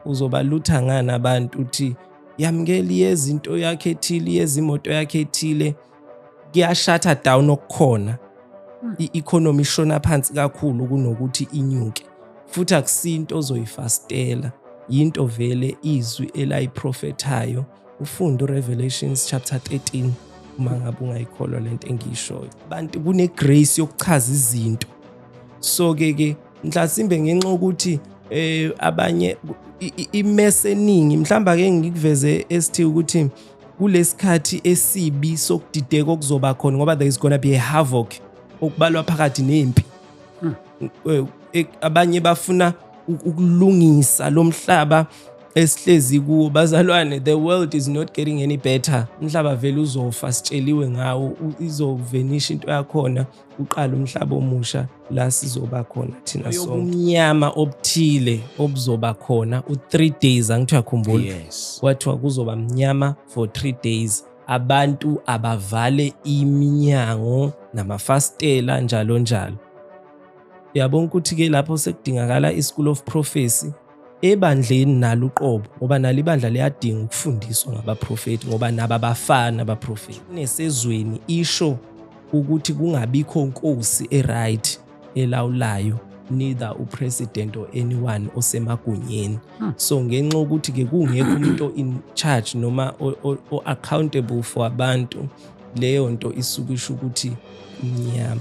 uzobalutha ngani abantu uthi yamukela yezinto yakhe ethile yezimoto yakhe ethile kuyashatha down okukhona hmm. i-economy ishona phansi kakhulu kunokuthi inyuke futhi akusinto ozoyifastela yinto vele izwi elayiprofethayo ufunde uRevelations chapter 13 uma ngabe ungayikholwa lento engiyishoyo abantu kunegrace yokuchaza izinto so ke ke mhlasimbe ngenxa ukuthi eh abanye imese eningi mhlamba ke ngikuveze esithi ukuthi kulesikhathi esibi sokudideka okuzoba khona ngoba there is gonna be a havoc okubalwa phakathi nempi hmm. eh, eh, abanye bafuna ukulungisa lo mhlaba esihlezi kuwo bazalwane the world is not getting any better umhlaba vele uzofa sitsheliwe ngawo izovenisha into yakhona uqala umhlaba omusha la sizoba khona thina sokumnyama obuthile obuzoba khona u-three days angithiwa khumbula yes. kwathiwa kuzoba mnyama for three days abantu abavale iminyango namafasitela njalo njalo uyabona ukuthi ke lapho sekudingakala i-school of prophecy ebandleni nalo uqobo ngoba nalo ibandla liyadinga ukufundiswa ngabaprofethi ngoba nabo abafana abaprofethi nesezweni isho ukuthi kungabikho nkosi e-right elawulayo neither upresident or anyone osemagunyeni hmm. so ngenxa ukuthi ke kungekho umuntu in charge noma o accountable for abantu leyo nto isuke isho ukuthi mnyama